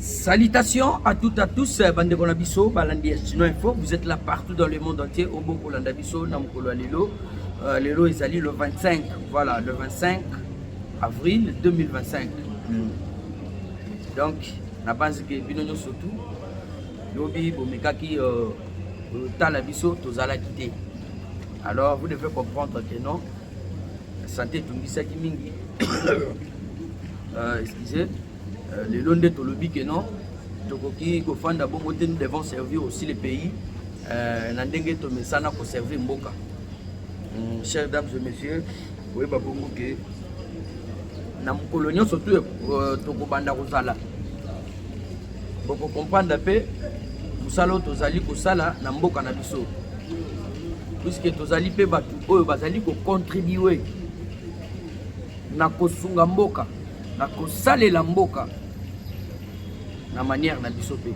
Salutations à toutes à tous euh, bande na biso balandi ya Chino Info vous êtes là partout dans le monde entier au boko landa biso na mukolo ya lelo euh, lelo ezali le 25 voilà le 25 avril 2025 hmm. donc na banzi ke bino nyoso tout lobi bomekaki euh, tala biso tozalaki te alors vous devez comprendre que non sante etungisaki mingi euh, excuse euh, lelo nde tolobi ke non tokoki kofanda bongo te nous devons servir aussi le pays euh, na ndenge tomesana koservir mboka mm, chers dames et messieurs koyeba bongo ke na mokolo nyonso tu tokobanda kozala boko comprendre mpe mosala oyo tozali kosala na mboka na biso puiske tozali mpe bato oyo bazali kocontribue na kosunga mboka na kosalela mboka na manière na biso mpe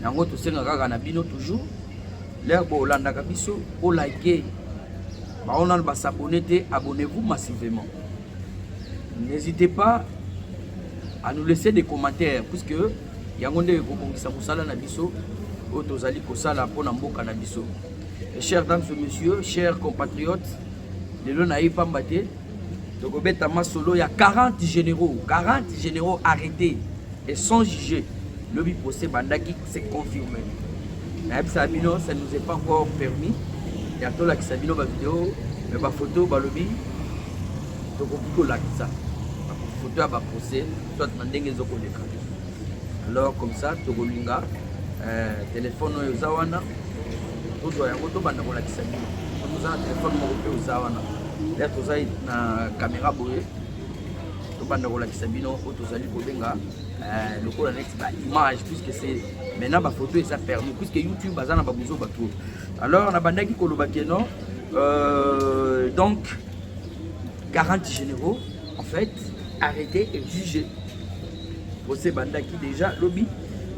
yango tosenga kaka na bino toujours lere bolandaka biso olike baonano basabone te abonnez-vous massivement N'hésitez pas à nous laisser des commentaires puisque yango nde ekobongisa mosala na biso oyo tozali kosala mpo na mboka na biso. Chers dames et messieurs, chers compatriotes, lelo na ye pamba te tokobeta masolo ya 40 généraux 40 généraux arrêtés et sans juger lobi procès bandaki C'est confirmé. Nayebisa bino, ça nous est pas encore permis. Ya tolakisa bino ba video, mais ba photo balobi tokoki kolakisa ba photo ya ba procès soit na ndenge ezokoleka. Alors comme ça tokolinga euh, téléphone oyo eza wana tozwa yango tobanda kolakisa bino. Toza na téléphone moko mpe oza wana. Lea toza na caméra boye tobanda kolakisa bino oyo tozali kobenga Euh, lokola neti ba image puisque c'est maintenant ba photo eza permis puisque youtube aza na ba buzoba trop alors nabandaki koloba ke non euh, donc garanti généraux en fait arrêté et jugé procès bandaki déjà lobi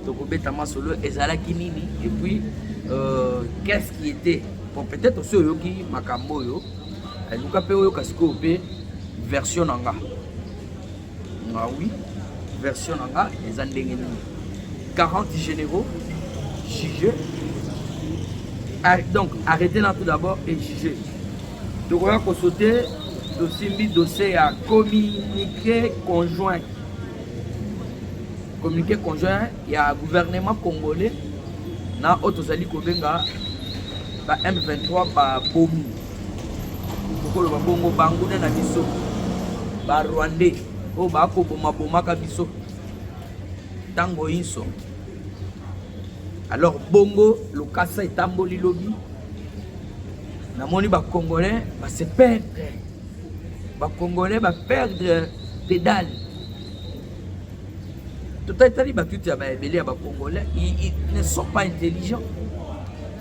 tokobeta masolo ezalaki nini et puis euh, qu'est-ce qui était bon peut-être osi oyoki makambo oyo luka mpe oyoka sikoyo mpe version na nga nga ah oui version na nga eza ndenge nini 40 généraux juge ah, donc arrêtez là tout d'abord et juge tokoya kosote tosimbi dossier ya communiqué conjoint communiqué conjoint ya gouvernement congolais na oyo tozali kobenga ba m23 babomi Bokoloba bongo banguna na biso ba Rwandais oyo bakoboma bomaka biso ntango inso. Alors bongo lokasa etamboli lobi, namoni ba Congolais ba se perdre, ba Congolais ba perdre pedale totalaki bato ete ya baebele ya bacongolais ne sont pas intelligent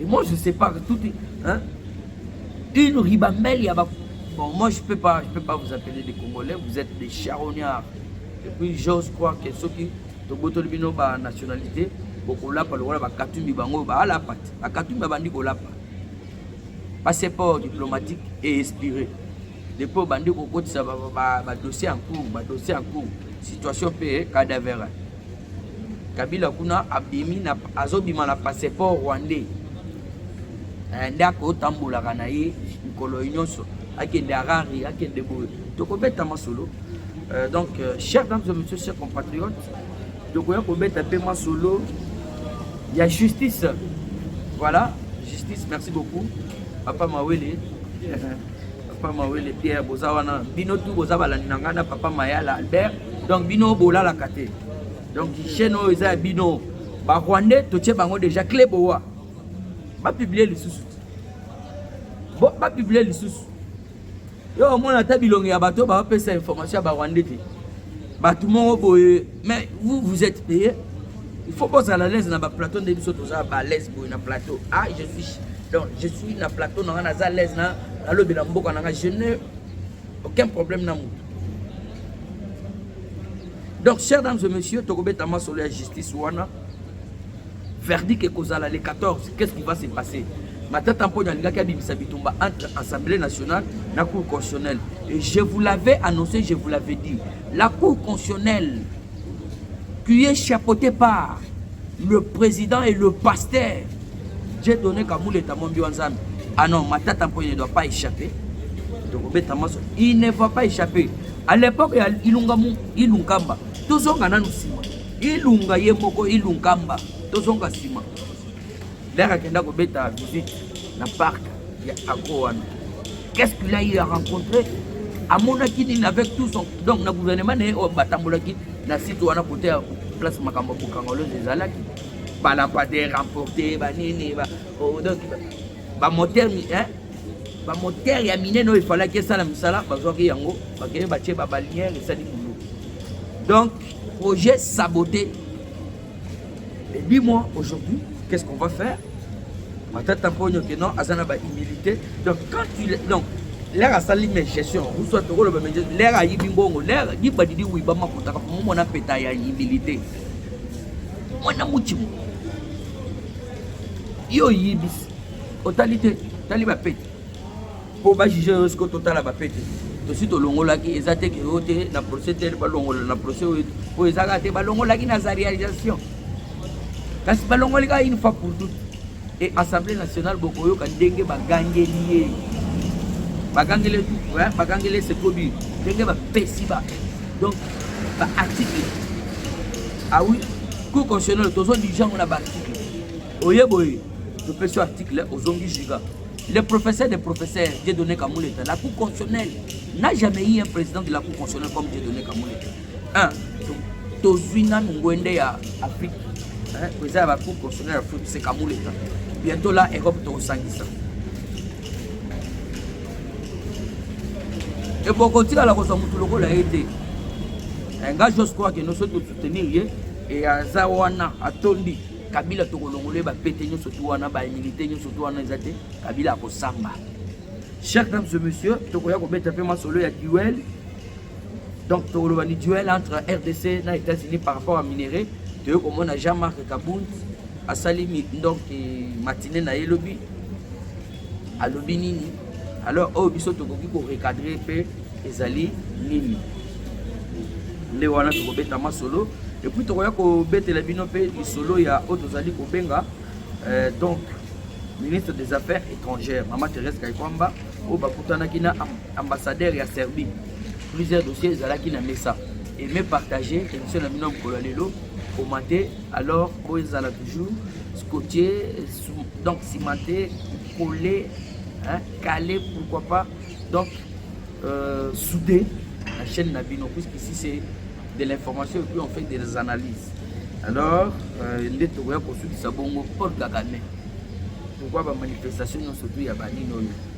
Et moi je sais pas que tout hein une ribambelle ya ba bon moi je peux pas je peux pas vous appeler des congolais vous êtes des charognards et puis j'ose croire que ceux qui tobotoli bino ba nationalité bokolapa lokola bakatumbi bango baalapa te bakatumbi abandi kolapa passeport diplomatique et expiré depuis obandi kokotisa badossier en cours badossier en cours situation mpe cadavera Kabila kuna abimi na azobima na passeport rwandais eh, nde akotambolaka na ye mikolo nyonso akende Harare akende boye tokobeta masolo euh, donc euh, chers dames et messieurs chers compatriotes tokoya kobeta mpe masolo ya justice voilà justice merci beaucoup papa mawele Papa Mawele Pierre boza wana bino tu boza balandi na ngai na Papa Mayala Albert donc bino bolalaka te donc chaîne oyo eza ya bino ba Rwandais totie bango déjà clé bowa ba publier lisusu bo ba publier lisusu yo omona ata bilongi ya bato bapesa information ya ba Rwandais te bato moko boye mais vous vous êtes payé il faut bozala à l'aise na ba plateau nde biso toza ba l'aise boye na plateau ah je suis donc je suis na plateau na nga naza alaise na nalobela mboka na nga je ne aucun problème na moto donc chers dames et messieurs tokobeta masolo ya justice wana verdict ekozala le 14 qu'est-ce qui va se passer matata mponi alingaki abimisa bitumba entre assemblée nationale na cour constitutionnelle et je vous l'avais annoncé je vous l'avais dit la cour constitutionnelle qui est chapeautée par le président et le pasteur J'ai donné Kabouleta Mombi wa Nzambe. Ah non, Matata Mpoye ne doit pas échapper. Tokobeta maso. Il ne va pas échapper. À l'époque ya Ilunga mu Ilunkamba, tozonga nanu sima. Ilunga ye moko Ilunkamba, tozonga sima. Lera akenda kobeta visite na parc ya Agro wana. Qu'est-ce qu'il a eu à rencontrer? Amonaki nini avec tout son donc na gouvernement na ye oyo batambolaki na site wana kote ya place makambo ya bokangolose ezalaki ba lampadaire emporte ba nini ba oh, donc ba moteur hein ba moteur ya minene oyo efalaki esala misala bazwaki yango bakende batie ba baliere esali mulu donc projet saboté et dis-moi aujourd'hui qu'est-ce qu'on va faire matata mponyo ke non aza na ba humilité donc quand tu donc lere asali me gestion uswa tokoloba me gestion lere ayibi mbongo lere dibadidi wiba makotaka momona peta ya humilité mwana muchimu yo oyibisi otali te tali bapete mpo bajuge yo siko totala bapete tosi tolongolaki eza te ke yo te na procès tel balongola na procès oyo mpo ezaka te balongolaki na za réalisation kasi balongoli kaka une fois pour toute Et Assemblée nationale bokoyoka ndenge bagangeli ye bagangeli ouais, bagangeli se produit ndenge bapesi ba donc ba article ah oui cour constitutionnel tozo dijango na ba article oye boye topesi yo article ozongi juga le professeur des professeurs Dieudonné Kamuleta la cour constitutionnelle n'a jamais eu un président de la cour constitutionnelle comme Dieudonné Kamuleta Ah, tozwi nanu ngwende ya afrique eza ya bacour constitutionnel ya foot sekamuleta bientôt la europe tokosangisa eboko otikala kozwa motu lokola ye te eh, nga jos kwake nyonso tosoutenir ye e aza wana atondi kabila tokolongola ye bapete nyonso tu wana baimilite nyonso tu wana eza te kabila akosamba chers dames et messieurs tokoya kobeta mpe masolo ya duel donc tokoloba ni duel entre rdc na états-unis par rapport à minerai toyei komona jean marc kabund asali donc matine na ye lobi alobi nini alors oyo biso tokoki korecadre mpe ezali nini nde wana tokobeta masolo epuis tokoya kobetela bino mpe lisolo ya oyo tozali kobenga euh, donc ministre des affaires étrangères mama therese kaikwamba oyo bakutanaki na Ambassadeur ya Serbie, plusieurs dossiers ezalaki na mesa. Aimez partager émission na bino mokolo lelo commenter alors oyo ezala toujours scotché donc cimenté collé hein, calé pourquoi pas donc euh, soudé la chaîne na bino puisqu'ici c'est de l'information et puis on fait des analyses alors euh, nde tokoya kosukisa bongo paul kagame pourquoi bamanifestation nyonso tu ya banini oyo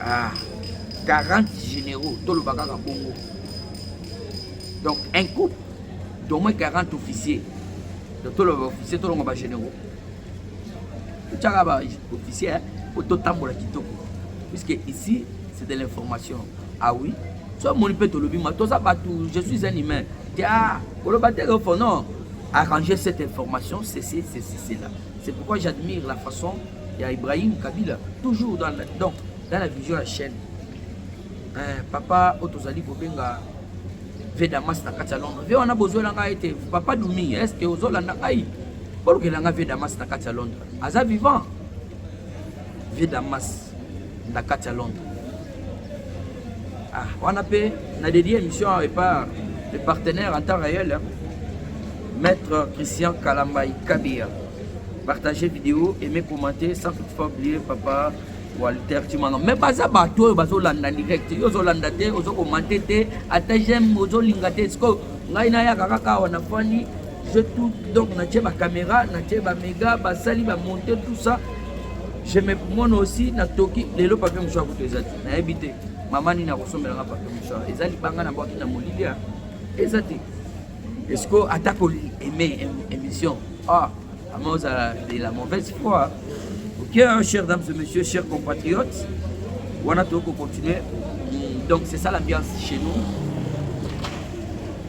ah, 40 généraux toloba kaka bongo donc un couple d'au moins 40 officiers donc toloba officier tolonga ba généraux totyaka ba officier po totambola kitoko puisque ici c'est de l'information ah oui so omoni mpe tolobi ma toza bato je suis un humain tia koloba te ofo non arranger cette information ceci ceci cela C'est pourquoi j'admire la façon ya Ibrahim Kabila toujours dans la, donc dans la vision ya chaîne eh, papa oyo tozali kobenga vedamas na kati ya londres ve wana bozwela ngai ete papa dumi est ce que ozolanda ngai bolukela ngai vedamas na kati ya londres aza vivant vedamas na kati ya Londres. Ah, wana mpe na dedie émission awa epa le partenaire en temps réel hein. maître Christian Kalambaï Kabia. Partagez vidéo, aimez, commentez, sans toutefois oublier papa Walter Chimano. Mais baza bato oyo bazolanda direct, yo ozolanda te, ozokomante te, ata j'aime ozolinga te. Sikoyo ngai nayaka kaka awa na fani je tout donc natie bacaméra natie bamega basali bamonte tout ça Je me mona aussi na toki lelo papier mouchoir kutu eza te nayebi te mama nini akosombela nga papier mouchoir eza libanga na bwaki na molilia eza te esiko ata ko aime émission ah ama ozala de la mauvaise foi ok hein, chers dames et messieurs chers compatriotes wana tokoki kocontinue donc c'est ça l'ambiance chez nous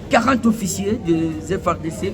40 officiers des FRDC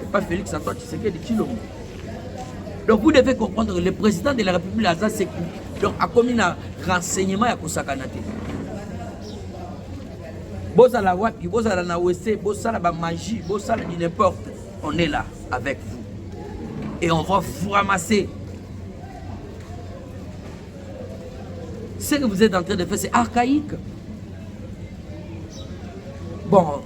C'est pas Félix Antoine Tshisekedi Tshilombo. Donc vous devez comprendre que le président de la République aza seku. Donc akomi na renseignement ya kosakana te. Bozala wapi, bozala na wese, bosala ba magie, bosala du n'importe. On est là avec vous. Et on va vous ramasser. Ce que vous êtes en train de faire, c'est archaïque. Bon,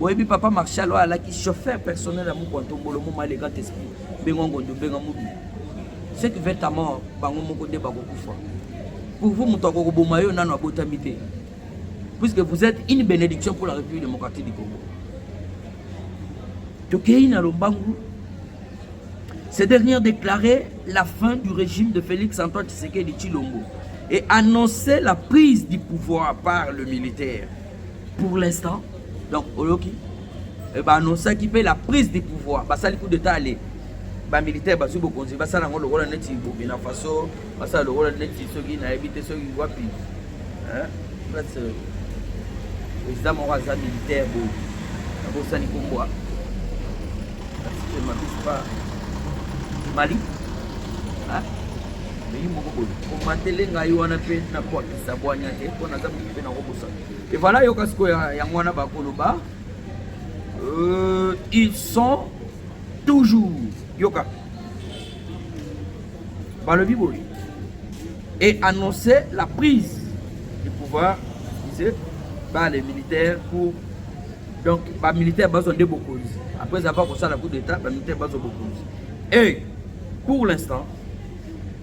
oyebi papa marshal oyo alaki chauffeur personnel ya mokwa ntombolo moma le grand esprit bengo ngondo benga mobi ce qui veut ta mort bango moko nde bakokufa pour vous moto akokoboma yo nano abotami te puisque vous êtes une bénédiction pour la république démocratique du congo tokei na lombangu ces dernières déclaré la fin du régime de félix antoine tshisekedi tshilombo et annonçait la prise du pouvoir par le militaire pour l'instant donc oyoki eh, baanonsaki mpe la prise du pouvoir basali coup d'état ale bamilitaire bazwi bokonzi basala yango lokola neti burkina faso basala lokola neti soki nayebi te soki wapi euh, président moko aza militaire boye abosani kombwa mabispa mali eyi moko boye komatele ngai wana mpe nakwakisa bwanya te mpo naza moki mpe nakobosa Et voilà, yoka sikoyo yango wana bakoloba euh, ils sont toujours yoka balobi boye et annoncer la prise du pouvoir disait par les militaires pour donc bamilitaire bazwa nde bokonzi après avoir kosala coup d'état bamilitaire bazwa bokonzi et pour l'instant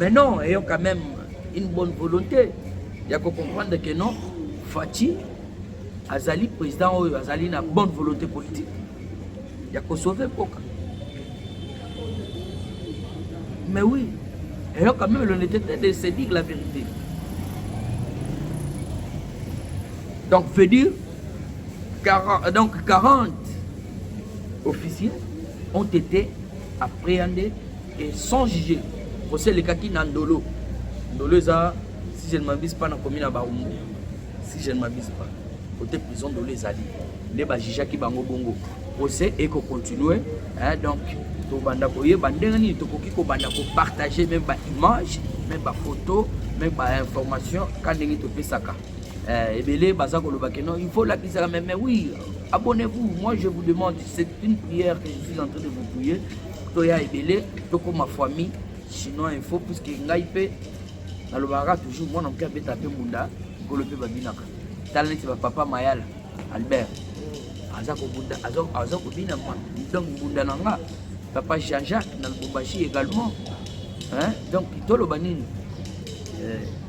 Mais non, ayant quand même une bonne volonté. Il y a qu'on comprendre que non, Fatih azali président oyo azali na bonne volonté politique ya kosauve mboka mais oui ayant quand même l'honnêteté de se dire la vérité donc veut dire 40, donc 40 officiers ont été Après yande et sans juger, procès le kaki na ndolo. Ndolo eza si je ne m'abuse pas na commune ya Barumbu. Si je ne m'abuse pas, côté prison ndolo ezali. Nde ba jugaki bango bongo. Procès eko continuer. Hein, donc tobanda koyeba ndenge nini tokoki kobanda kopartage meme baimage meme bafoto meme bainformation ka ndenge topesaka Eh, ebele baza koloba que non il faut lakisaka mais mais oui abonnez-vous moi je vous demande c'est une prière que je suis en train de vous prier toya ebele tokoma famille sinon info puisque ngai mpe nalobaka toujours mwana moke abeta mpe mbunda nkolo mpe babinaka tala neti bapapa mayala albert aza kobunda aza kobina donc mbunda na nga papa jean jacques na lubumbashi également donc toloba nini eh,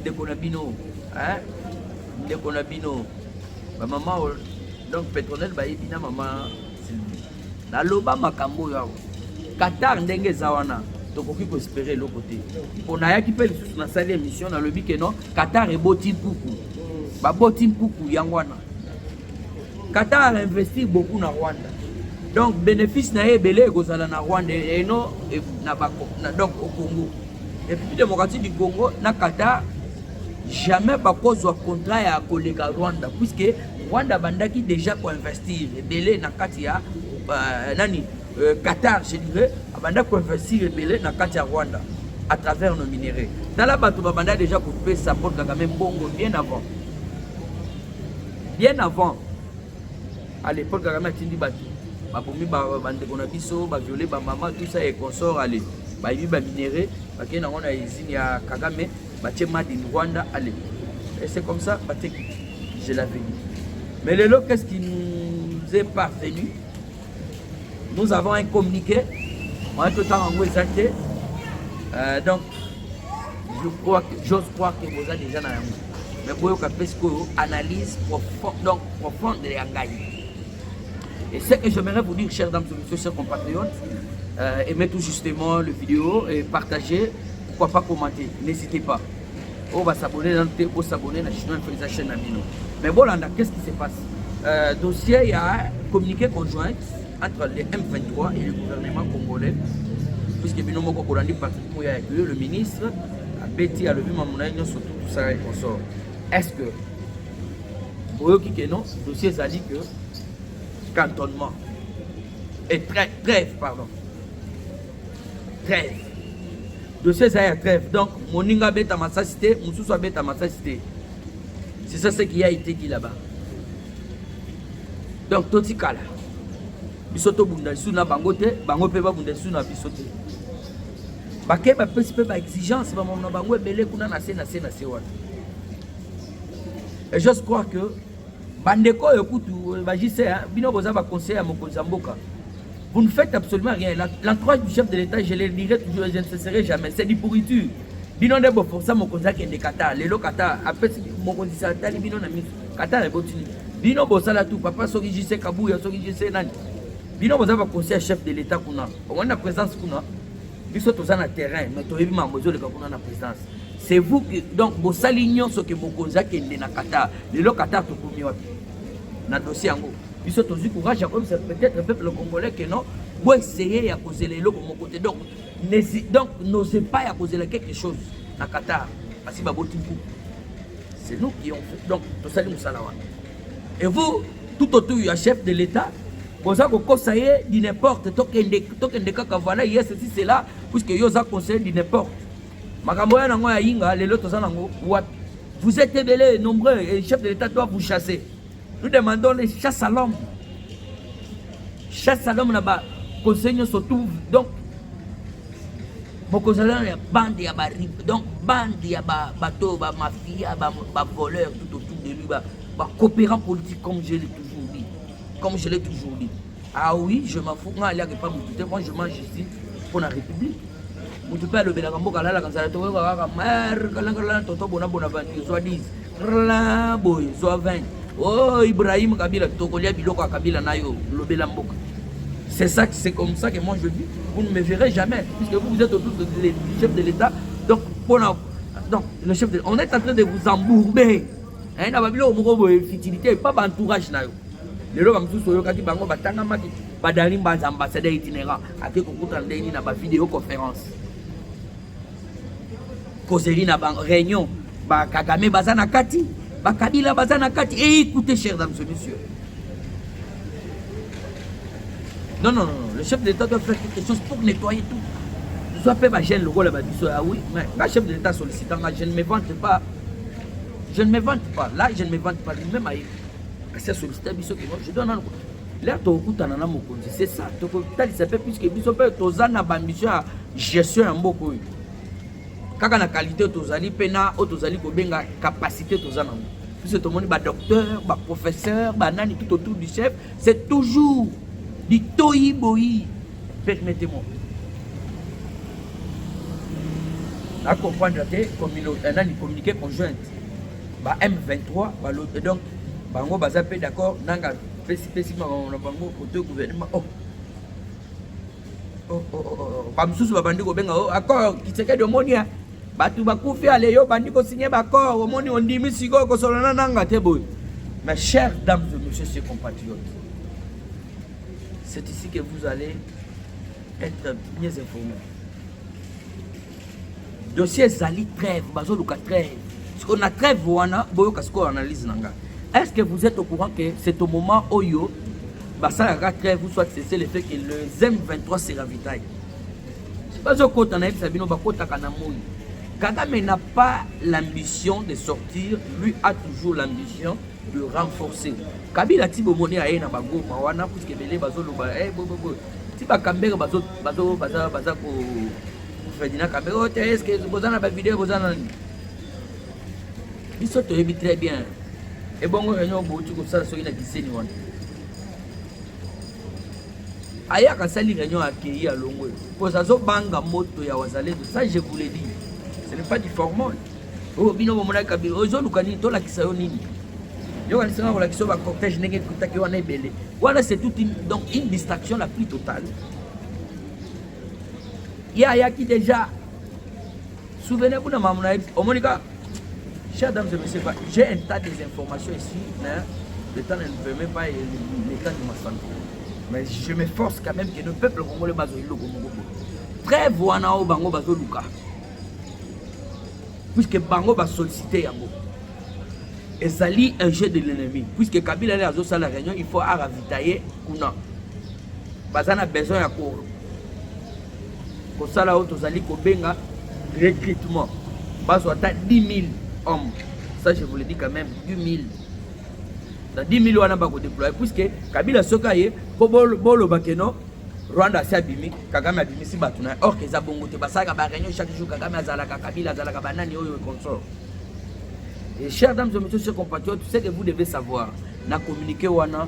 ndeko na bino hein ndeko na bino ba mama donc petronel bayebi na mama Sylvie naloba makambo oyo awa Qatar ndenge eza wana tokoki koespere eloko te mpo nayaki mpe lisusu nasali émission nalobi ke non Qatar eboti mpuku baboti mpuku yango wana Qatar investir beaucoup na Rwanda donc bénéfice na ye ebele ekozala na Rwanda eno na, na donc au Congo République démocratique du Congo na Qatar jamais bakozwa contrat ya koleka Rwanda puisque Rwanda bandaki déjà koinvestir ebele na kati ya euh, nani euh, Qatar je dirais abanda koinvestir ebele na kati ya Rwanda à travers nos minerais tala bato babanda déjà kopesa Paul Kagame mbongo bien avant bien avant À l'époque, Kagame atindi bato babomi bandeko na biso baviole bamama tout ça et consort ale bayibi baminere bakei nango na usine ya kagame batie made in rwanda ale et c'est comme ça bateki je l'avais dit mais lelo qu'est ce qui nous est parvenu nous avons un communiqué wana totanga yango eza te euh, donc je crois que j'ose croire que boza déjà na yango mais boyoka mpe sikoyo analyse profonde donc profonde ya ngai et ce que j'aimerais vous dire chers dames et messieurs chers compatriotes euh, aimez tout justement le vidéo et partagez pourquoi pas commenter n'hésitez pas oyo ba s'abonner nanu te bo s'abonner na chinois mpe eza chaîne na bino mais bolanda qu'est-ce qui se passe euh, dossier ya communiqué conjointe entre le M23 et le gouvernement congolais puisque bino moko kolandi Patrick Moya que le ministre abeti alobi mamu na ye nyonso tout ça et consort est-ce que boyoki ke non dossier ezali que cantonnement et très, trêve pardon trêve dossier eza ya trêve donc moninga abeta masasi te mosusu abeta masasi te c'est ça ce qui a été dit là-bas donc totikala biso tobunda lisusu na bango te bango mpe babunda lisusu na biso te bake bapesi mpe baexigence bamamona bango ebele kuna na se na se na se wana et j'ose croire que Bandeko oyo kutu euh, ba JC hein, bino boza ba conseil ya mokonzi ya mboka. Vous ne faites absolument rien. L'entourage du chef de l'État, je le dirai toujours et je ne cesserai jamais. C'est du pourriture. Bino nde bo forcer mokonzi akende Qatar. Lelo Qatar apesi mokonzi sa tali bino na miso. Qatar ebotini. Bino bosala tout papa soki JC Kabuya soki JC nani. Bino boza ba conseil ya chef de l'État kuna. Omona présence kuna. biso toza na terrain mais toyebi makambo ezoleka kuna na présidence c'est vous que donc bosali nyonso ke mokonzi akende na qatar lelo qatar tokomi wapi na dossier yango biso tozwi courage ya koyebisa peut-être peuple congolais ke non boessaye ya kozela eloko moko te donc donc n'ose pas ya kozela quelque chose na qatar basi baboti mpuku c'est nous qui on fait donc tosali mosala wana et vous tout autour ya chef de l'état boza kokosa ye du n'importe tokende tokende kaka voilà yes si c'est là puisque yo oza conseiller du n'importe makambo ya nango ya yinga lelo toza nango wapi vous êtes ebele nombreux et chef de l'état doit vous chasser nous demandons les chasse à l'homme chasse à l'homme na ba conseil nyonso tout donc bokozala na bande ya ba donc bande ya ba bato ba mafia ba ba voleur tout autour de lui ba ba coopérant politique comme je l'ai toujours dit Comme je l'ai toujours dit. Ah oui, je m'en fous. Nga aliaka epa mutu te. Moi, je mange ici mpo na république. Mutu mpe alobelaka mboka alalaka nzala tokoyoka kaka mare kalangalala toto bona bona vanti zwa 10 rla boye zwa 20 o oh, Ibrahim Kabila tokolia biloko ya Kabila na yo lobela mboka. C'est ça, c'est comme ça que moi je vis. Vous ne me verrez jamais, puisque vous, vous êtes autour de, de, du chef de l'État. Donc, pour la, donc, le chef de, on est en train de vous embourber. eh, na babiloko moko boye fitilité epa baentourage na yo lelo bamosusu oyokaki bango batangamaki badali mbanza ambassadeur itinérant ake kokutana ndenge nini na bavideo conférence kozeli na baréunion bakagame baza na kati bakabila baza na kati e écoute chers dames et messieurs non non non le chef de l'état doit faire quelque chose pour nettoyer tout soit mpe bagene lokola babiso ya ah wi mais nga chef de l'état sollicitant nga je ne me vante pas Je ne me vante pas. Là, je ne me vante pas. Lui-même a eu. C'est sollicité biso qui je donne un Là, tu okutana na mokonzi. C'est ça. Tu okutana ça fait plus que biso pe toza na ba mission ya gestion ya mboko oyo. Kaka na qualité tozali pe na o tozali ko benga capacité toza na. Biso tomoni ba docteur, ba professeur, ba nani tout autour du chef, c'est toujours du toyi boyi. Permettez-moi. na comprendre te euh, nani communiqué conjointe ba m23 balobi donc bango baza mpe d'accord nanga pesipesi makambo na bango koto gouvernement oh. Oh, oh, oh, oh. bamosusu babandi kobenga o oh, accord kisekedi omoni ya bato bakufi ale yo obandi kosinye baaccord omoni ondimi sikoyo kosolana nanga te boye ma chère dame de monsieur ses compatriotes c'est ici que vous allez Être mieux informé. Dossier ezali trêve, bazoluka trêve. Siko na trêve wana boyoka siko analyse na nga. Est-ce que vous êtes au courant que c'est au moment oyo basalaka trêve ou soit c'est le fait que le M23 se ravitaille. Bazokota na yebisa bino bakotaka na moyi. Kagame n'a pas l'ambition de sortir, lui a toujours l'ambition de renforcer. Kabila Tibomone aye na bagoma wana puisque bele bazoloba eh bo bo bo ti bakambere baza ko fredina kambere oyo te eske boza na bavideo boza na nini biso toyebi très bien ebongo réunion bouti kosala soki na kiseni wana ayaka asali réunion akeyi alongo oyo koza azobanga moto ya wazalendo ça je vous le dis ce n'est pas du formol Oh, bino bomonaki kabila oyo ezoluka nini tolakisa yo nini yo walisanga kolakisa yo bacortège ndenge ekutaki wana ebele wana c'est toute une, donc une distraction la plus totale ye ayaki déjà souvenez vous na mamu na ye omoni ka chers dames et messieurs j'ai un tas des informations ici mais le temps ne me permet pas et le temps de ma santé mais je m'efforce quand même que le peuple congolais bazoyi loko moko boye trêve wana oyo bango bazoluka puisque bango ba sollicite yango ezali un jeu de l'ennemi puisque kabila nde azosala réunion il faut aravitaye kuna baza na besoin ya ko kosala oyo tozali kobenga recrutement bazwa ata 10 000 hommes ça je vous le dis quand même 10 000 na 10 000 wana bakodeploye puisque kabila soki aye mpo bolobake no rwanda asi abimi Kagame abimisi bato na or eza bongo te, basalaka ba réunion chaque jour. Kagame azalaka Kabila, azalaka banani oyo consort. Et chers dames et messieurs, chers compatriotes, ce que vous devez savoir, na communiqué wana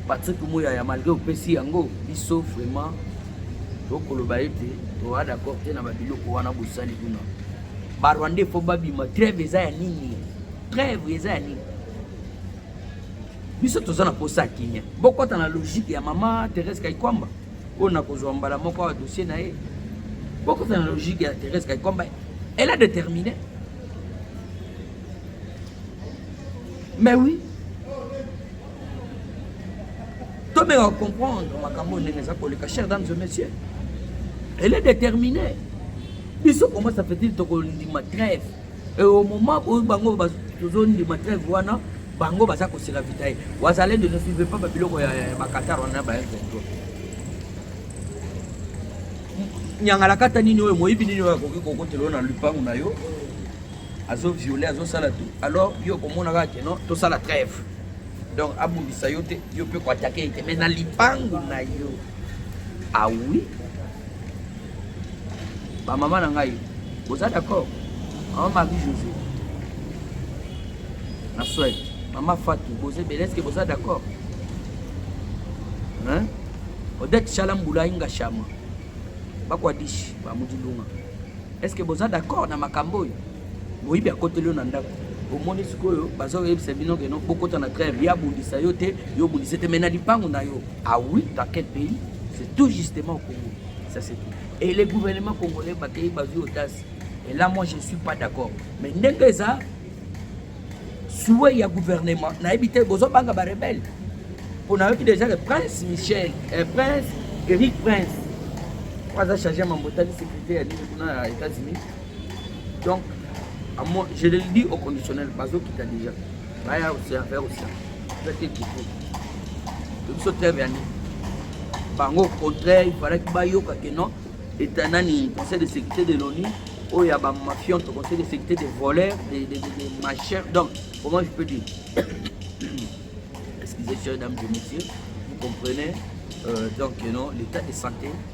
Patrick Mouyaya malgré opesi yango biso vraiment tokoloba ete toa d'accord te na babiloko wana bosali kuna barwandais fo babima treve eza ya nini treve eza ya nini biso toza na posa ya kimia bokota na logique ya mama Therese Kaikwamba oyo nakozwa mbala moko awa dossier na ye bokota na logique ya Therese Kaikwamba elle a déterminé mais oui tomeka comprendre makambo ndenge eza koleka chers dames et messieurs elle est déterminée biso comment ça fait-il tokondima trève Et au moment où bango tozondima trêve wana bango baza kosela vita ye wazalendo ne suive pas babiloko ya bakatar wana ba m23 nyangalakata nini oyo moyibi nini oyo akoki kokotela oyo na lupangu na yo azo viole azosala tout alors yo okomonaka ke non tosala trêve donc abundisa yo te yo mpe koatake ye te mais na lipangu na yo awi ah oui. Ba mama na ngai, boza d'accord? Mama Marie José na Suède, mama Fatou, boza ebele, est-ce que boza d'accord? Hein? Odette Shalambula Inga Shama, bakwadishi ba Mudilunga, est-ce que boza d'accord na makambo oyo? Moyibi akoteli yo na ndako omoni sikoyo bazoyebisa bino keno bokota na treve ye abundisa yo te yo obundisa te mai na lipango na yo Ah oui, dans quel pays C'est tout justement au Congo. Ça c'est tout. Et les gouvernements congolais bakei bazui audace. Et là moi je ne suis pas d'accord. Mais ndenge eza souhait ya gouvernement nayebi te bozobanga barebele mpo nayoki déjà le prince michel eh, prince eric prince po aza charge ya mambo etali sécurité ya nini kuna ya états-unis donc je le dis au conditionnel bazokita déjà baya koserve kosa eza te kiko tobiso terme ya nini bango au contraire ifalaki bayoka ke non eta nani conseil de sécurité de l'onu oyo ya bamafion to conseil de sécurité des voleurs des de, de, de machins donc comment je peux dire excusez chers dames et messieurs vous comprenez euh, donc non l'état de santé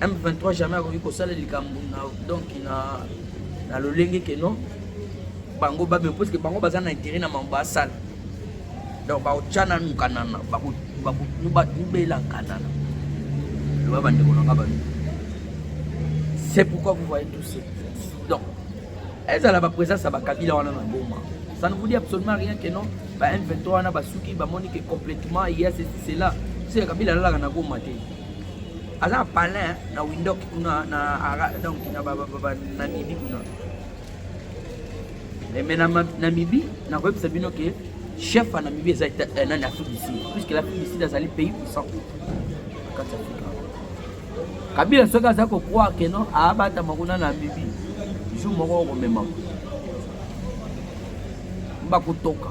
M23 jamais akoki kosala likambo na donc na na lolenge ke non bango babe parce que bango baza na intérêt na mambo asala donc bakotya nanu kanana bakobela kanana loba bandeko na nga balo c'est pourquoi vous voyez tout ce donc ezala baprésence ya bakabila wana na goma ça ne vous dit absolument rien que non ba m23 wana basuki bamoni ke complètement ya ceci cela seke kabila alalaka na goma te aza na palin na windok kuna na ara donc na banamibi kuna mais na namibi nakoyebisa bino ke chef ya namibi eza eh, nani afrique du sud puisque l'afrique du sud azali pays puissant kati afrika kabila soki aza kokroire ke non abatama kuna na namibi jour moko okomemama bakotoka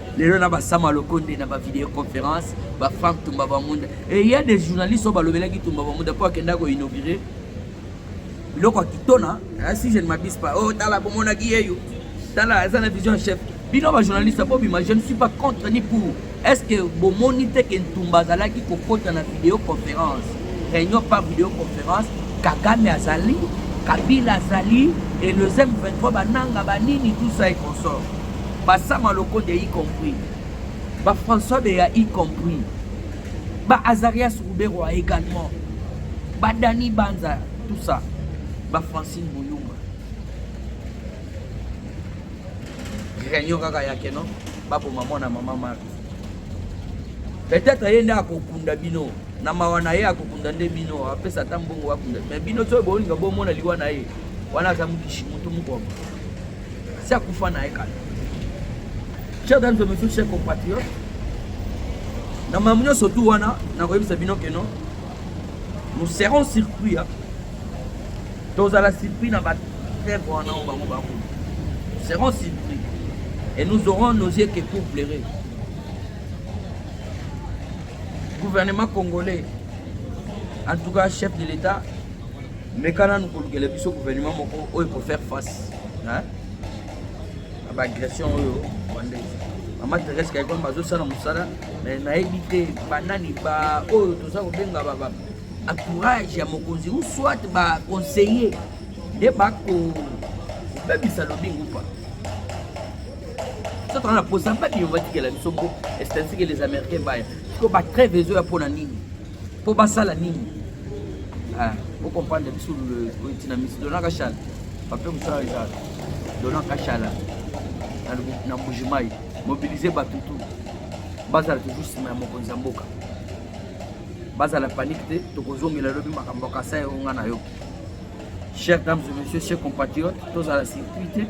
lelo na basama lokonde na bavideo conférence bafrank tumba bamunda e ya des journalistes oyo balobelaki tumba bamunda mpo akenda koinaugure biloko ya kitona eh, si je ne m'abuse pas oyo oh, tala bomonaki yeyo tala aza na vision chef bino bajournaliste bobima je ne suis pas contre ni pour est ce que bomoni te ke ntumba azalaki kokota na video conférence réunion par video conférence kagame azali kabila azali et le zem 23 bananga banini tout ça et consort ba sama lokonde y compris ba françois beya y compris ba azarias ruberwa également ba dani banza tout ça ba francine boyumba réunion kaka yake non baboma mwana mama mari peut-être ye nde akokunda bino na mawa na ye akokunda nde bino apesa ata mbongo bakunda me bino soki bolinga bomona liwa na ye wana aza mokishi motu mokoma si akufa na ye kala chers dames et messieurs chers compatriotes na mamu nyonso tu wana nakoyebisa bino ke non nous serons surpris tozala surpris na batreve wana oyo bango bakolo nous serons surpris et nous aurons nos yeux que pour pleurer gouvernement congolais en tout cas chef de l'état meka nanu kolukela biso gouvernement moko oyo ko faire face na baagression oyo rwandaise mama therese kaikwam bazosala mosala me nayebi te banani baoyo toza kobenga baba entourage ya mokonzi ou soit baconseiller nde bakobebisa lobingu pa so tozana posa mpe biyo batikela biso mpo estatike les américains baya siko batreve ezoya mpo na nini Mpo basala nini? Ah, vous comprenez biso le petit na miso dona kashala. Pape mosala eza dona kashala na Mbujimayi mobiliser bato tout bazala toujours nsima ya mokonzi ya mboka bazala panike te tokozongela lobi makambo ya kasai oyo ngai nayoki chers dames et messieurs chers compatriotes tozala circuit te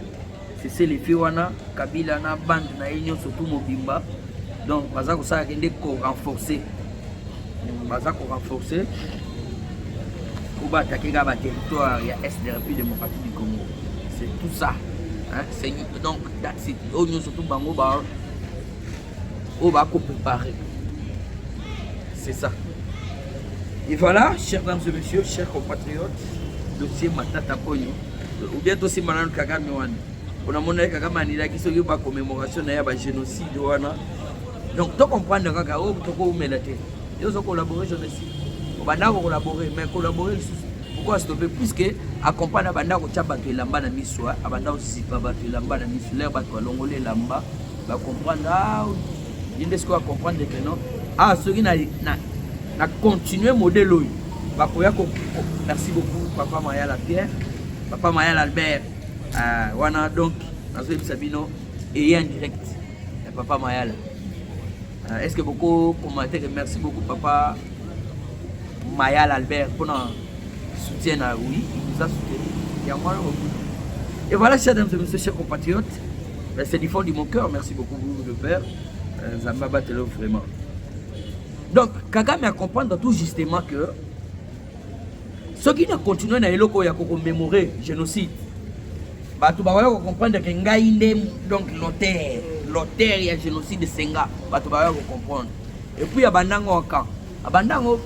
Sese lefe wana Kabila na bande na ye nyonso tu mobimba donc baza kosala kende ko renforcer baza ko renforcer po baatake kaka baterritoire ya est de république démocratique du congo c'est tout ça hein? donc oyo nyonso tu bango ba oyo bako préparer c'est ça et voilà chers dames et messieurs chers compatriotes dossier matata koyo ou bien tosimba nanu kagame wana onamona ye kagame anilaki soki ba commémoration na ye ya ba génocide wana donc to comprendre kaka oyo oh, tokoumela te yo ozo collabore génocide obanda ko collabore mais collabore lisusu pourquoi astope puisque accompagne abanda kotya bato elamba na miso abanda kozipa bato elamba na miso lere bato balongoli elamba ba comprendre ah ye nde sikoyo acomprendre que non ah soki na, na, na continue modele oyo bakoya ko merci beaucoup papa mayala pierre papa mayala albert uh, wana donc nazoyebisa bino eye en direct ya papa mayala uh, est ce que boko commentaire merci beaucoup papa mayala albert mpona soutien na oui il nous a soutenu yango wana et voilà chers dames et messieurs chers compatriotes Ben, c'est du fond de mon cœur. Merci beaucoup, vous, le père. Euh, Zamba Batelo, vraiment. Donc, Kagame a comprendre tout justement que ce qui ne continue na eloko ya commémorer génocide. Bato ba ko comprendre que ngai nde donc l'auteur, l'auteur ya génocide Senga. Bato ba ko comprendre. Et puis ya bandango en camp. Abandango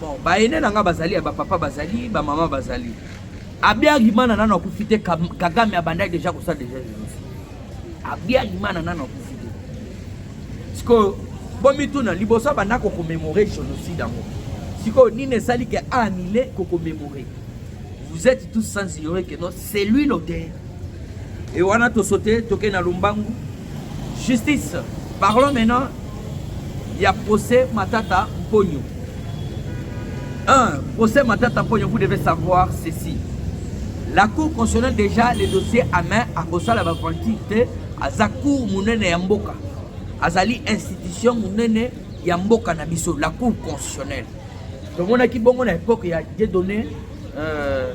bon, ba aînés na nga bazali, ba papa bazali, ba maman bazali. Abiyarimana nano akufi te, Kagame abandaki deja kosala deja genocide. Abiyarimana nano akufi te. Sikoyo bomituna liboso abanda kokomemore genocide yango, sikoyo nini esali ke anile kokomemore? Vous êtes tous sans ignorer que non, c'est lui l'auteur. Et wana to sauter, toke na Lumbangu. Justice. Parlons maintenant ya procès Matata Mponyo. Un, procès Matata Mponyo, vous devez savoir ceci. La Cour constitutionnelle déjà les dossiers à main à Kosala Bafanti te aza cour munene ya mboka. Azali institution munene ya mboka na biso, la Cour constitutionnelle. tomonaki bongo na epoke ya dieudonne euh,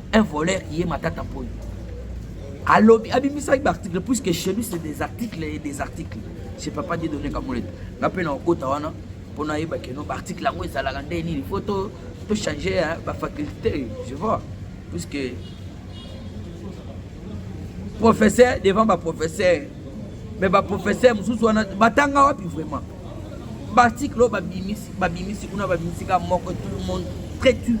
un voleur ye matata mpoyo alobi abimisaki baarticle puisque chez lui c'est des articles et des articles chez papa die donne kamolete nga mpe na okota wana mpo nayeba keno baarticle yango ezalaka nde nini fo tochange bafaculté je vois puisque professeur devant baprofesseur mais baprofesseur mosusu wana batanga wapi vraiment baarticle oyo babimisi babimisi kuna babimisi ka moko tout le monde très tu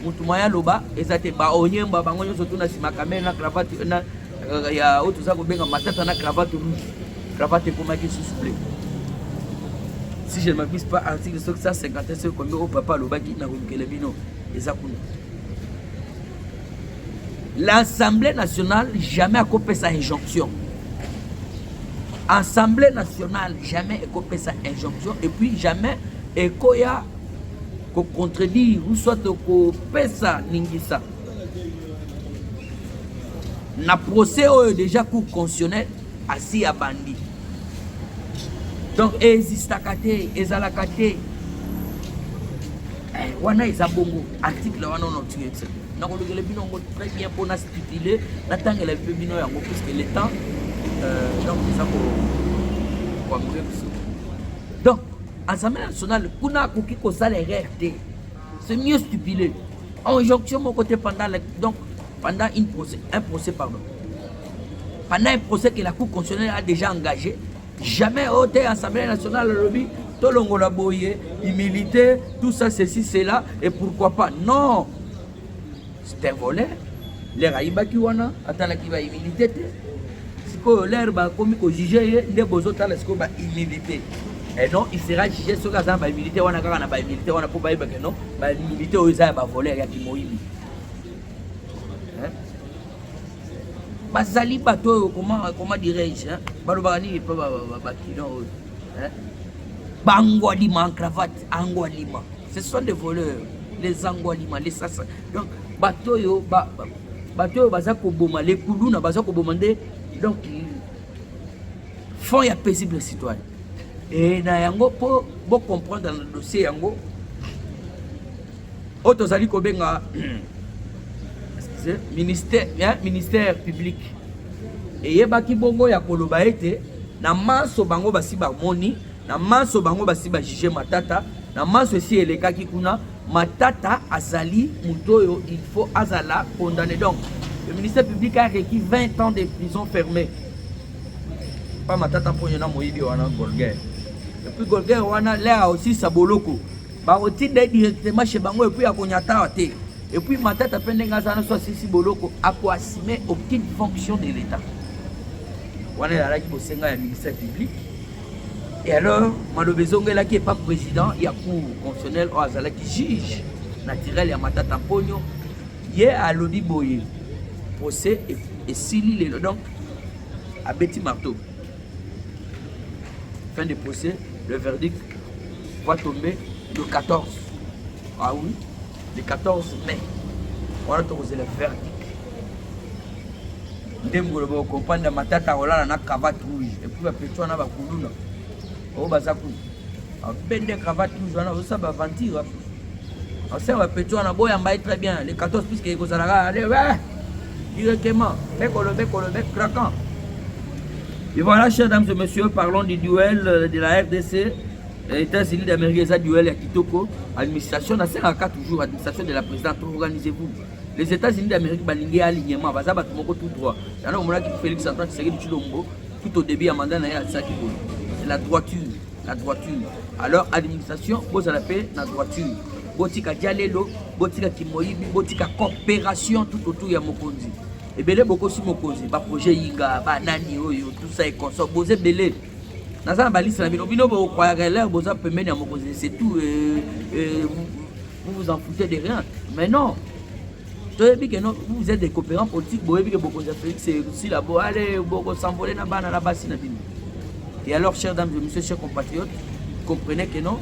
motu mwa ya loba eza te baonyemba bango nyonso tuna nsima kamere na cravate na euh, ya oyo toza kobenga matata na cravate rouge cravate ekomaki susu ble si je ne m'abuse pas article soki 151 soki kombi oyo papa alobaki na kolukela bino eza kuna L'Assemblée nationale jamais akopesa injonction. Assemblée nationale jamais ekopesa injonction et puis jamais ekoya ko contredire ou soit kopesa ningisa na procès oyo déjà cour constitutionnelle asi ya bandi donc ezistaka te ezalaka te eh, wana eza bongo article wana onotiyo nakolukela bino yango très bien mpo na stipule natangela mpe bino yango puisque le temps euh, donc eza koambre biso donc assemblée nationale kuna akoki kosala erreur te c'est mieux stipule injonction moko te pendant donc pendant une procès, un procès pardon pendant un procès que la cour constitutionnelle a déjà engagé Jamais OT Assemblée nationale lobby tolongola boye humilité tout ça ceci cela et pourquoi pas non c'est un volet lere ayibaki wana atalaki bahumilité te sikoyo lere bakomi kojuge ye nde bozotala sikoyo bahumilité et non il sera jugé soki aza na bahumilité wana kaka na bahumilité wana mpo bayebake non bahumilité oyo eza ya bavoler ya kimoyibi bazali bato oyo koma dirais-je balobaka nini mpo bakino oyo bangwalima en cravate angwalima ce sont des voleurs les angwalima les sasa donc bato oyo bato oyo baza koboma lekuluna baza koboma nde donc fond ya paisible citoyen e na yango mpo bocomprendre na dossier yango oyo tozali kobenga ministère, hein, ministère public eyebaki bongo ya koloba ete na manso bango basi bamoni na manso bango basi bajuge matata na manso esi elekaki kuna matata azali moto oyo il faut azala condamné donc le ministère public a requis 20 ans de prison fermé pa matata mponyo na moyibi wana golguer epuis golguer wana lere aosisa boloko bakotinda ye directement chez bango epuis akonyatawa te epuis matata mpe ndenge aza naso asisi boloko akoassume aucune fonction de l'état wana ezalaki bosenga ya ministère public et alors maloba ezongelaki epa président ya cour constitutionnel oyo azalaki juge naturel ya matata mponio ye alobi boye procès esili lelo donc abeti marteau Fin de procès, le verdict va tomber le 14. Ah oui, le 14 mai. On a le verdict. ndenge koloba okompanda matata akolala na cravate rouge epuis bapetwana bakuluna oyo baza kuna Bende cravate rouge wana ozosala ba aventure osala ba petit wana boyamba ye très bien le 14 puisque ekozalaka directement bekolo bekolo be craquant et voilà chers dames et messieurs parlons du duel euh, de la rdc États-Unis d'Amérique, ça duel à Kitoko, administration, on a toujours administration de la présidente, organisez-vous. les États-Unis d'Amérique balingi alignement baza bato moko tout droit yango omonaki Félix Antoine Tshisekedi Tshilombo tout au début ya mandat na ye atisaki boye c'est la droiture la droiture alors administration bozala mpe na droiture botika dialelo botika kimoyibi botika coopération tout autour ya mokonzi ebele bokosi mokonzi baprojet yinga banani oyo tout ça econso boza ebele naza na balisi na bino bino bokwayaka elere boza pembeni ya mokonzi c'est tout euh, euh, vous vous en foutez de rien mais non toyebi que non vous êtes des coopérants politiques boyebi que bokonzi ya félix esila bo ale bokosambole na bana na basi na bino et alors chers dames et monsieur chers compatriotes comprenez que non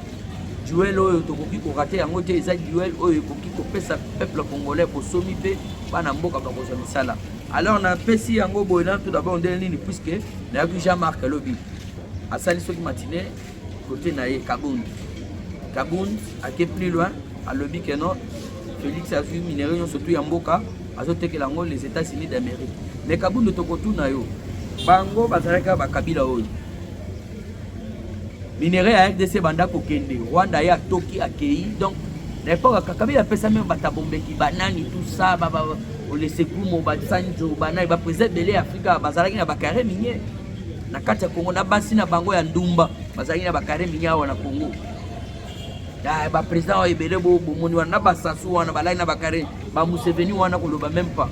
duel oyo tokoki korate yango te eza duel oyo ekoki kopesa peuple congolais bosomi mpe bana mboka bakozwa misala alors napesi yango boye na tout d'abord ndenge nini puisque nayoki jean marc alobi asali soki matine Cote na ye Kabund. Kabund ake plus loin alobi que non Felix azwi minerais nyonso tu ya mboka azotekela yango les États-Unis d'Amérique. Mais Kabund tokotuna yo bango bazalaki ba kabila oyo minerais ya RDC banda kokende Rwanda ye atoki akei donc na epoka kakabila apesa meme batabombeki banani tout ça ba, ba, olesekumo basanjo banani bapresa ebele ya afrika bazalaki na bakare minier na kati ya Congo na basi na bango ya ndumba bazalaki na bakare minyawa na Congo ah, bapresident oyo ebele bomoni wana na basasu wana balai na bakare bamuseveni wana koloba meme pas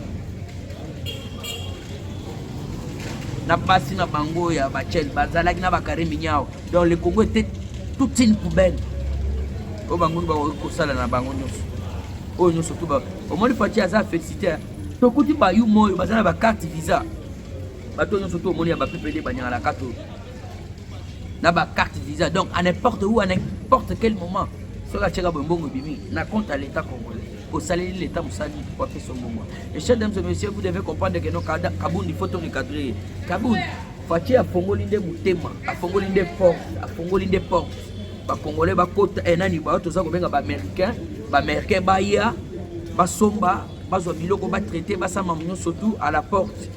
na basi na bango ya bachel bazalaki na bakare minyawa donc le congo était toute une poubelle oyo bango bakoki kosala na bango nyonso oyo nyonso tu omoni faci aza félicité tokuti bayuma oyo baza na bacarte visa bato nyonso to omoni ya ba PPD banyangana kato na ba carte visa donc à n'importe où à n'importe quel moment soki atyaka boye mbongo ebimi na compte ya l'état congolais osaleli l'état mosali po apesa mbongo et chers dames et messieurs vous devez comprendre que no kabund il faut to recadre ye kabund fatie afongoli nde motema afongoli nde porte afongoli nde porte bacongolais bakota e eh, nani bayo toza kobenga baaméricain baaméricain baya basomba bazwa biloko ba traite basala mamu nyonso tout à la porte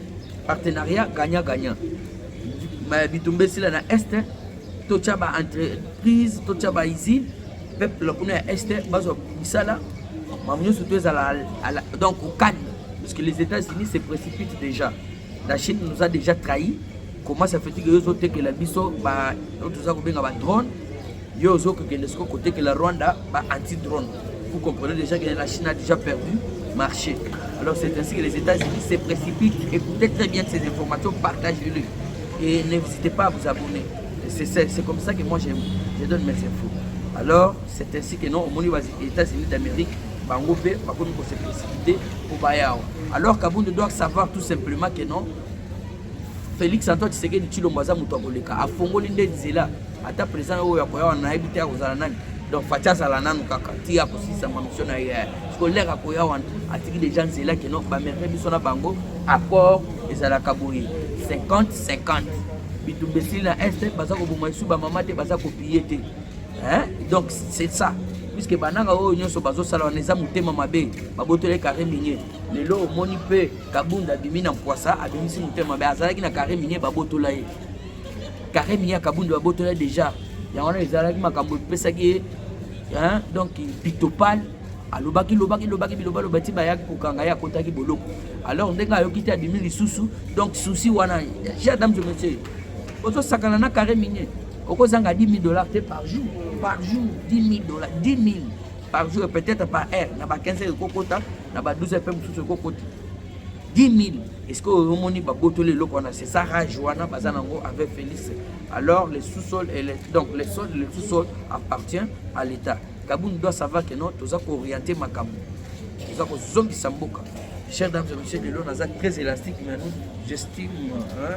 partenariat gagnant gagnant bitumba esila na est totya ba entreprise totya ba usine peuple kuna ya est bazwa misala mamu nyonso tout ezala donc okani parce que les états unis se précipitent déjà la chine nous a déjà trahi Comment ça fait que yo ozotekela biso ba oyo toza kobenga ba drone yo ozokokende siko kotekela Rwanda ba anti drone vous comprenez déjà que la Chine a déjà perdu marché alors c'est ainsi que les États-Unis se précipitent écoutez très bien ces informations partagez-les et n'hésitez pas à vous abonner c'est comme ça que moi je, je donne mes infos alors c'est ainsi que non omoni ba États-Unis d'Amérique bango mpe bakomi kose précipite mpo baya awa alors kabunde doit savoir tout simplement que non Felix Antoine Tshisekedi Tshilombo aza moto akoleka, afongoli nde nzela ata president oyo akoya wana nayebi te akozala nani donc faci azala nanu kaka ti akosilisa mamission na ye siko lere akoya wana atiki deja nzela keno bamerite biso na bango accord ezalaka boye 50 50 bitumba esili na este baza koboma lisu bamama te baza kopiye te donc c'est ça puiske bananga oyo nyonso bazosala wana eza motema mabe babotoli carre minier lelo omoni mpe kabunda abimi na mpwasa abimisi motema mabe azalaki na carre minier babotola ye carre minier ya kabunda babotola ye déjà yango wana ezalaki makambo epesaki ye donc pitopale alobaki lobaki lobaki biloba loba ti bayaki kokanga ye akotaki boloko alors ndenge ayoki te abimi lisusu donc souci wana ja dame de monsieur ozosakana na carre minier okozanga 10 000 dollars te par jour par jour 10 000 dollars 10 000 par jour peut-être par heure na ba 15 heures ekokota na ba 12 heures mpe mosusu ekokota 10 000 est-ce que omoni babotoli eloko wana c'est ça rage wana baza nango avec Félix alors le sous-sol et le, donc le sol le sous-sol appartient à l'État Kabund doit savoir que non toza ko orienter makambo toza ko zombisa mboka chers dames et messieurs lelo naza très élastique mais nous j'estime hein,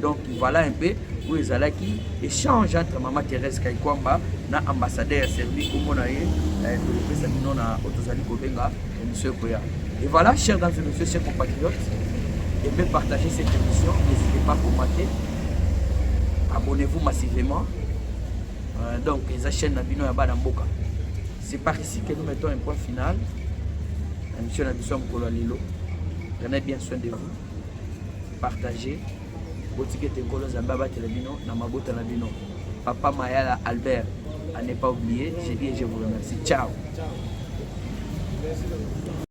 Donc voilà un peu oyo ezalaki échange entre mama Thérèse Kaikwamba na ambassadeur ya Serbie kombo na ye eh, tokopesa bino na oyo tozali kobenga émission ekoya et voilà chers dames et messieurs chers compatriotes aimez partager cette émission n'hésitez pas à commenter abonnez-vous massivement euh, donc eza chaîne na bino ya bana mboka c'est par ici que nous mettons un point final na mission na biso ya mokolo ya lelo prenez bien soin de vous partage botika ete nkolo nzambe abatela bino na mabota na bino papa mayala albert à ne pas oublier je dis et je vous remercie ciao, ciao.